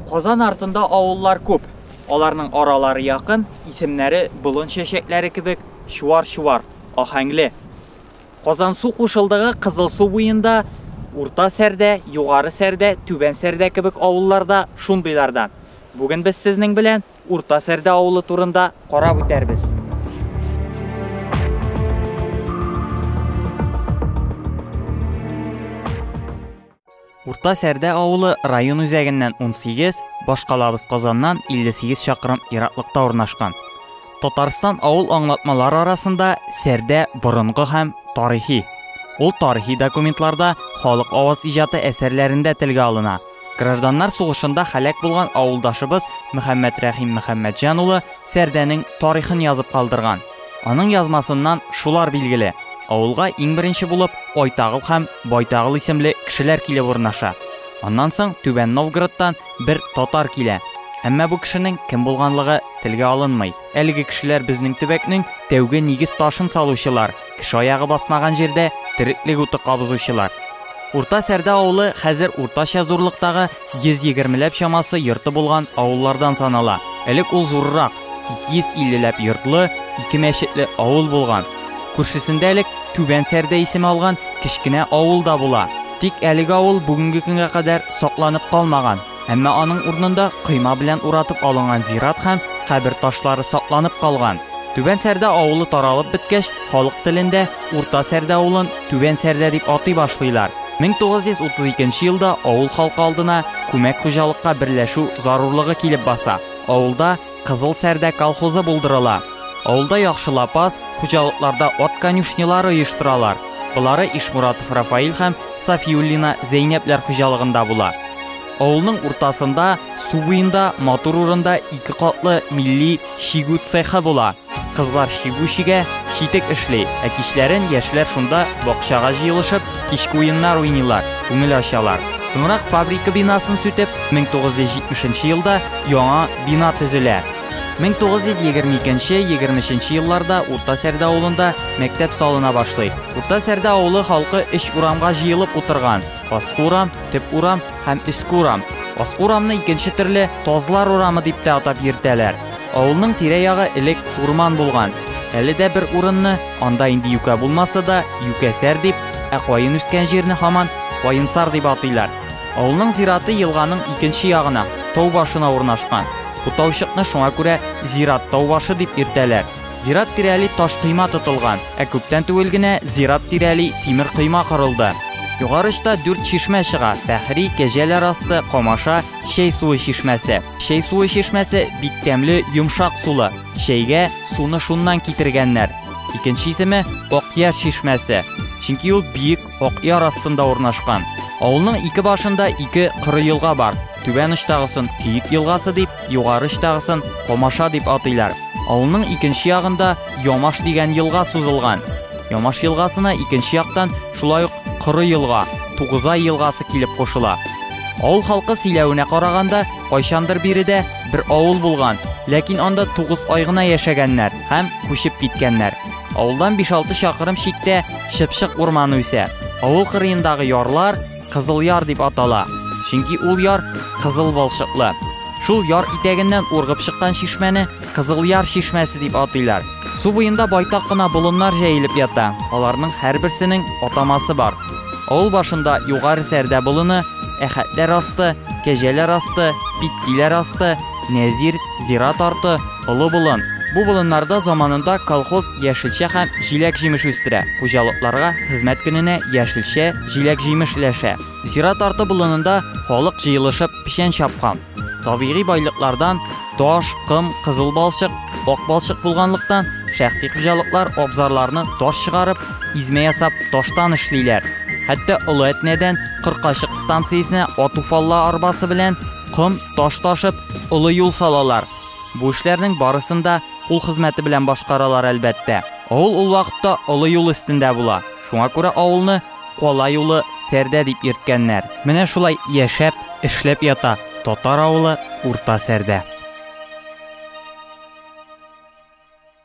Казан артында авыллар күп. Аларның аралары якын, исемнәре болын чәчәкләре кебек чуар-чуар, аһәңле. Казансу кушылдыгы Кызылсу буенда, Урта Сәрдә, Югары Сәрдә, Түбән Сәрдә кебек авыллар да шундыйлардан. Бүген без сезнең белән Урта Сәрдә авылы турында карап үтәрбез. Урта Сәрдә авылы район үзәгеннән 18, башкалабыз Казаннан 58 чакрым ераклыкта урнашкан. Татарстан авыл аңлатмалары арасында Сәрдә борынгы һәм тарихи. Ул тарихи документларда, халык аваз иҗаты әсәрләрендә телгә алына. Гражданнар сугышында халәк булган авылдашыбыз Мөхәммәд Рәхим Мөхәммәдҗан улы Сәрдәнең тарихын язып калдырган. Аның язмасыннан шулар билгеле. Авылга иң беренче булып Айтагыл һәм Байтагыл исемле кешеләр килеп урнаша. Аннан соң Түбән Новгородтан бер татар килә. Әмма бу кешенең кем булганлыгы телгә алынмый. Әлеге кешеләр безнең төбәкнең тәүге нигез ташын салучылар, кеше аягы басмаган җирдә тереклек уты кабызучылар. Урта Сәрдә авылы хәзер уртача зурлыктагы Йөз егермеләп чамасы йорты булган авыллардан санала. Элек ул зуррак, 250 ләп йортлы, ике мәчетле авыл булган. Күршесендә элек Түбән Сәрдә исеме алган кечкенә авыл да була. Тик әлеге авыл бүгенге көнгә кадәр сакланып калмаган. Әмма аның урынында койма белән уратып алынган зират һәм кабер ташлары сакланып калган. Түбән Сәрдә авылы таралып беткәч, халык телендә Урта Сәрдә авылын Түбән Сәрдә дип атый башлыйлар. 1932 елда авыл халкы алдына күмәк хуҗалыкка берләшү зарурлыгы килеп баса. Авылда Кызыл Сәрдә колхозы булдырыла. Авылда яхшы лапас, хуҗалыкларда ат конюшнялары оештыралар. Болары Ишмуратов Рафаил һәм Сафиуллина Зәйнәпләр хуҗалыгында була. Авылның уртасында, су буенда, матур урында ике катлы милли чигү цехы була. Кызлар чигү чигә, читек эшли, ә кичләрен яшьләр шунда бакчага җыелышып, кичке уеннар уйныйлар, күңел ачалар. Соңрак фабрика бинасын сүтеп, 1970 нче елда яңа бина төзелә. 1922 нче, 23 нче елларда Урта Сәрдә авылында мәктәп салына башлый. Урта Сәрдә авылы халкы өч урамга җыелып утырган, аскы урам, төп урам, һәм өске урам. Аскы урамны икенче төрле Тазлар урамы дип тә атап йөртәләр. Авылның тирә-ягы элек урман булган. Әле дә бер урынны, анда инде юкә булмаса да, юкәсәр дип, ә каен үскән җирне һаман Каенсар дип атыйлар. Авылның зираты елганың икенче ягына, тау башына урнашкан. Бу таучыкны шуңа күрә Зират тау башы дип йөртәләр. Зират тирәли таш койма тотылган, ә күптән түгел генә зират тирәли тимер койма корылды. Югары очта дүрт чишмә чыга, Фәхри, Кәҗәләр асты, Камаша, Чәй суы чишмәсе. Чәй суы чишмәсе бик тәмле, йомшак сулы. Чәйгә суны шуннан китергәннәр. Икенче исеме, Акъяр чишмәсе. Чөнки ул биек, Акъяр астында урнашкан. Авылның ике башында ике коры елга бар. Түбән очтагысын Киек елгасы дип, югары очтагысын Комаша дип атыйлар. Авылның икенче ягында Ямаш дигән елга сузылган. Ямаш елгасына икенче яктан шулай ук коры елга, Тугызай елгасы килеп кушыла. Авыл халкы сөйләвенә караганда, кайчандыр биредә бер авыл булган, ләкин анда тугыз ай гына яшәгәннәр һәм күчеп киткәннәр. Авылдан 5-6 чакрым читтә чыпчык урманы үсә. Авыл кырыендагы ярлар Кызыл яр дип атала. Чөнки ул яр кызыл балчыклы. Шул яр итәгеннән ургып чыккан чишмәне Кызыл яр чишмәсе дип атыйлар. Су буенда байтак кына болыннар җәелеп ята. Аларның һәрберсенең атамасы бар. Авыл башында Югары Сәрдә болыны, Әхәтләр асты, Кәҗәләр асты, Питкиләр асты, Нәзир, Зират арты, Олы болын. Бу болыннарда заманында колхоз яшелчә һәм җиләк-җимеш үстерә. Хуҗалыкларга хезмәт көненә яшелчә, җиләк-җимеш өләшә. Зират арты болынында халык җыелышып печән чапкан. Табигый байлыклардан таш, ком, кызыл балчык, ак балчык булганлыктан, шәхси хуҗалыклар абзарларны таш чыгарып, измә ясап таштан эшлиләр. Хәтта Олы Әтнәдән Кыркачык станциясенә атуфалла арбасы белән ком, таш ташып, олы юл салалар. Бу эшләрнең барысын да кул хезмәте белән башкаралар, әлбәттә. Авыл ул вакытта олы юл өстендә була, шуңа күрә авылны Кала юлы, Сәрдә дип йөрткәннәр. Менә шулай яшәп, эшләп ята татар авылы Урта Сәрдә.